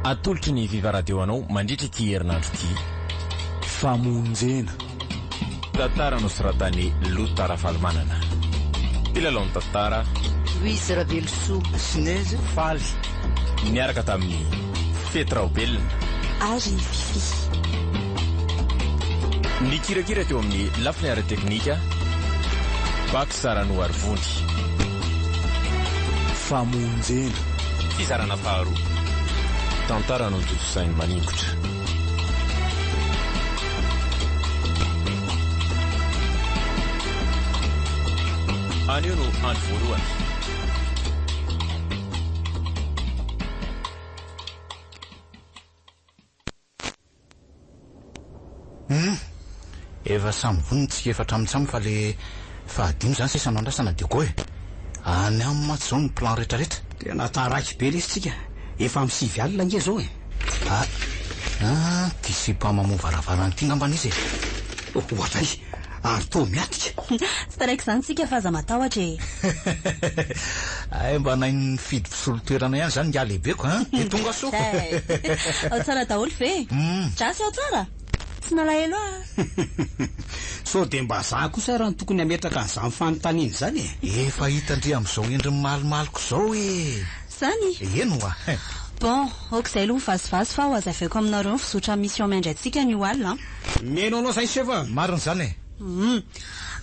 Atolotry ny Viva Radio anao mandritra ity herinandro ity. Famonjena. Tantara nosoratan'i Lota Ravalomanana. Mpilalao ny tantara. Louise Ravelosoa. Sinez Faly. Niaraka tamin'i Fety Raobelina. Ary Fifi. Nikirakira teo amin'ny lafiny ara-teknika. Fizarana ho aro vody. Famonjena. Fizarana faharoa. Tantara notontosain'i Maningotra. Anio no andro voalohany. Humm! Efa samy vonona ny tsika efatra amin-tsamy fa le fahadimy zany sisa no andrasana de go e! Any aminy mantsy zao ny plan rehetra rehetra. Tena taraiky be lesy tsika, efa am sivy alina ange zao e! Ah! Ity sipa mamoha varavarana ity ngambany izy e! Ohatray! ary toa miatika. Tsy taraiky izany tsika fa aza matahotra e. Hay mba nahay nifidy mpisolo toerana ihany izany ingahy lehibeko an! Dia tonga soa. Hay! Ao tsara daholo ve? Dra sy ao tsara? Tsy nalahelo aho an! Sao dia mba za kosa ara no tokony hametraka an'izany fanontaniana izany e? Efa hita ndry amin'izao endriny malomaloka izao e! Zany? Eny hoa! Bon, ok izay aloha ny vazivazy fa ho hazaveako aminareo ny fizotra amin'ny mission miandry antsika ny ho alina an! Mais non non zay chef a. Marina izany e. Humm.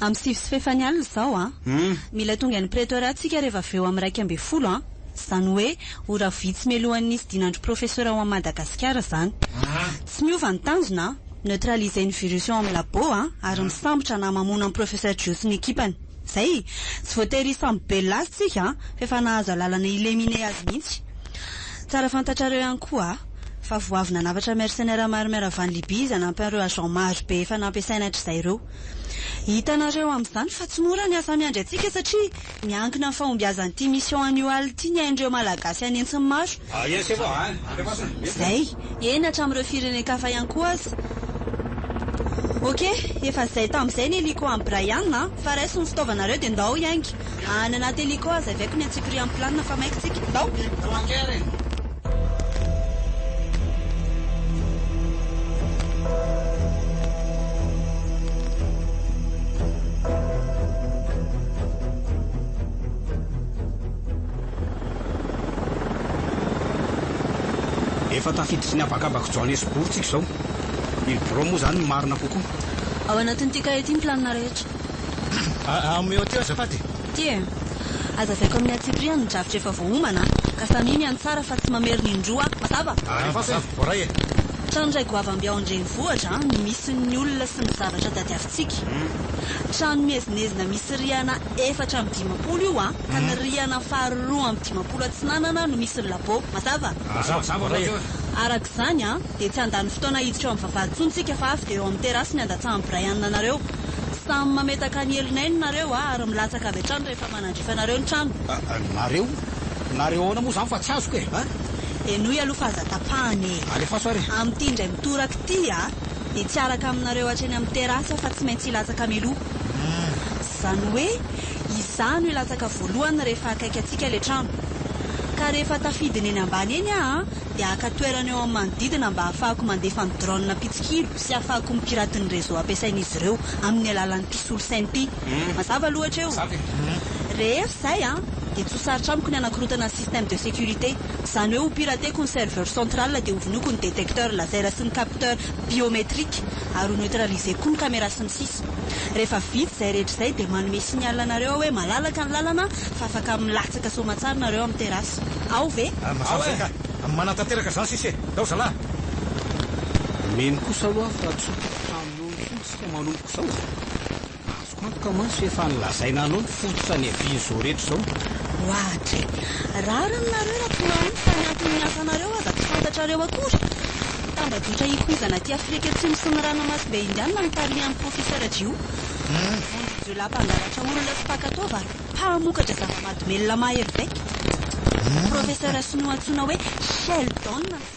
Am sivy sy fefany alina izao an. Humm. Mila tonga any Pretoria tsika reva avy eo am iraika ambin'ny folo an. Zany hoe ora vitsy mialohan'ny nisy dinandry Professeur ao am Madagasikara zany. Aa. Tsy miova ny tanjona an. Neutraliser ny virus ao am labo an ary misambotra na mamono am Professeur Joe sy ny ekipany. Zay. Tsy voatery samy bella azy tsika an, fa efa nahazo alalana ilemine azy mihitsy. Tsara fantatrareo ihany koa a, fa vao avy nanafatra mercenaires maro miarava an'i Libye izy hanampy an'ireo agents maro be efa nampiasainy hatrizay ireo. Hitanareo amin'izany fa tsy mora ny asa miandry antsika satria miankina amin'ny fahombiazan'ity mission annual ity ny ain'ireo Malagasy an'hetsiny maro Zay, eny hatramin'ireo firenen-kafa ihany koa aza. Ok, efa zay tamin'izay ny Hélico an'i Brian a! Fa raiso ny fitaovanareo dia ndao hiainga! Any anaty Hélico hazavaiko ny antsipirihan'ny planina fa maika tsika. Ndao! Efa tafiditry ny habakabak'i Joanesbourg tsika izao. Io birao moa izany no marina kokoa. Ao anatin'ity kahie ity ny planina rehetra. Aa, omeo aty aho azafady e. Ity e. Hazavaiko amin'ny antsipiriany ny drafitra efa voaomana an, ka samia miantsara fa tsy mamerina indroa an, mazava? Ary mazava, voaray e. Trano iray goavambe ao an-drenivohitra an, no misy ny olona sy ny zavatra tadiavintsika. Tsiky. Trano miezinezina misy rihana efatra amby dimampolo io an, ka ny rihana faharo roa amby dimampolo atsinanana no misy ny labo. Mazava? Mazava hoatr'izao e! Arak'izany an, dia tsy handany fotoana hiditra eo amin'ny vavahady intsony tsika fa avy dia eo amin'ny terasy ny handatsahan'i Brian anareo. Samy mametaka ny helon'ainy nareo an, ary milatsaka avy hatrany rehefa manandrifa anareo ny trano. Nareo? Nareo ahoana moa izany fa tsy azoko e? Henoy aloha fa aza tapahana e! Alefaso ary e! Amin'ity indray mitoraka ity an! dia tsy araka aminareo hatreny amin'ny terasa fa tsy maintsy hilatsaka mialoha. Izany hoe izaho no hilatsaka voalohany rehefa akaiky antsika ilay trano. Ka rehefa tafidiny eny ambany eny aho dia haka toerana eo amin'ny manodidina mba hahafahako mandefa ny drone mpitsikilo sy hahafahako mi-pirate ny réseau ampiasain'izy ireo amin'ny alalan'ny ity solosaina ity. Mazava aloha hatreo. Rehefa izay dia tsy ho sarotra amiko ny hanakorotana ny système de sécurité. Izany hoe hopirateko ny serveur central dia hovonoiko ny détecteur laser sy ny capteur biométrique ary ho neutraliser-ko koa ny camera sy ny sisa. Rehefa vita izay rehetra izay dia manome signal anareo aho hoe malalaka ny lalana fa afaka milatsaka soamatsara nareo amin'ny terasy. Ao ve? Ah, mazava izay ka! Manatanteraka izany sisa e! Ndao zalahy! Mino kosa aloha aho fa tsy ho tapitra aminao intsony isika manomboka izao. Azoko antoka mantsy efa nolazaina anao ny fototra niavian'izao rehetra izao. Oadry. Rariny nareo raha tsy mahomby fa ny anton'ny asanareo aza tsy fantatrareo akory. Tambajotra ikoizana aty Afrika Atsimo sy ny Ranamasimbe Indianina notarihan'ny Professeur Jiho. Vengeance de la Mpangalatra olona sy mpaka taova ary mpamokatra zava-mahadomelina mahery vaika. Professeur Sinoa antsoina hoe Sheldon.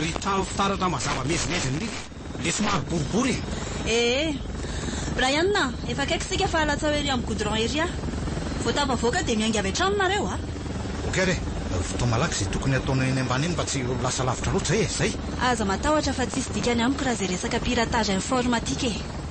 Ry trano fitaratra mazava mezimezin'i Lily. Ilay somary boribory iny. Ee. Brian a, efa akaiky isika fa halatsaho ery amin'ny goudron ery aho. Vao tafavoaka dia miainga avy hatrany nareo a! Ok re. Vitaho malaky izay tokony hataonao eny ambany eny mba tsy ho lasa lavitra loatra e! Izay! Aza matahotra fa tsisy dikany amiko raha izay resaka piratage informatique e!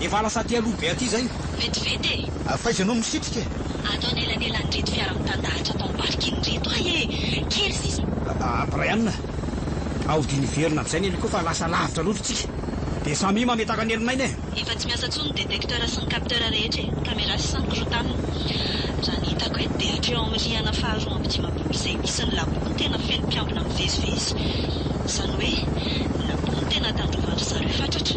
Efa lasa aty aloha be aty zay. Vetivety e! Ary faiza no misitrika e? Ato anelanelan'ireto fiara mitandahatra atao parking ireto ahy e! Kely sisa. Aa Brian a! Ao dia niverina avy izay ny hélico fa lasa lavitra loatra isika. Dia samia mametaka ny helon'aina e! Efa tsy miasa intsony ny détecteur sy ny capteur rehetra e! Cameras sy ny korotanina. Raha ny hitako eto dia hatreo amin'ny rihana faharoa amby dimampolo izay misy ny labo no tena feno mpiambina mivezivezy. Izany hoe, ny labo no tena tandrovan-dry zareo fatratra.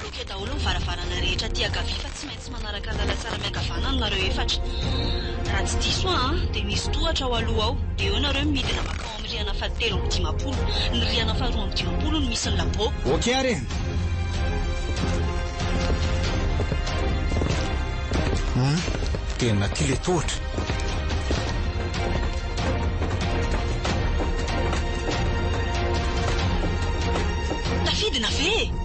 Bloqué daholo ny varavarana rehetra aty ankavia fa tsy maintsy manaraka ny lalantsara miankavanana nareo efatra. Raha tsy diso aho an, dia misy tohatra ao aloha ao, dia eo nareo midina mankao amin'ny rihana fahatelo amby dimampolo. Ny rihana faharoa amby dimampolo no misy ny labo. Ok ary e! Humm, tena aty ilay tohatra. Tafidina ve e?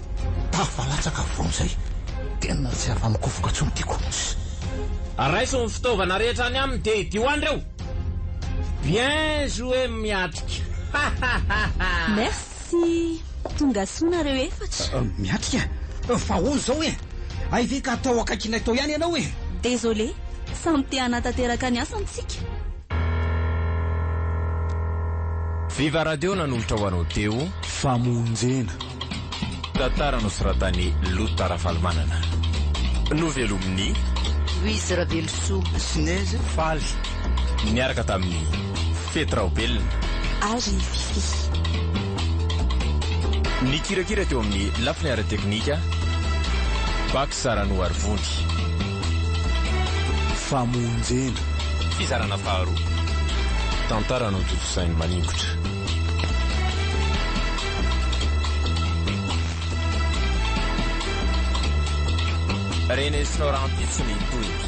Tafa latsaka avy vao amin'izay. Tena tsy afa-mikofoka intsony ity kokoss. Raiso ny fitaovana rehetra any aminy dia idio any reo! Bien joué Miatrika! Hahahaha! Merci! Tonga soa nareo efatra. Miatrika, fa ahoana izao e? Hay ve ka atao akaikinay tao ihany ianao e? Désolé, samy te hanatanteraka ny asany tsika. Viva radio nanolotra ho anao teo. Famonjena. Tantara nosoratan'i Lota Rafalimanana. Novelomin'i. Louise Ravelosoa. Snez Faly. Niaraka tamin'i. Fety Raobelina. Ary i Fiffi. Nikirakira teo amin'ny lafiny ara-teknika, Bac Saranoa Arivony. Famonjena. Fizarana faharoa. Tantara notontosain'i Maningotra. Rene sy Nora Ampitso ny tohiny.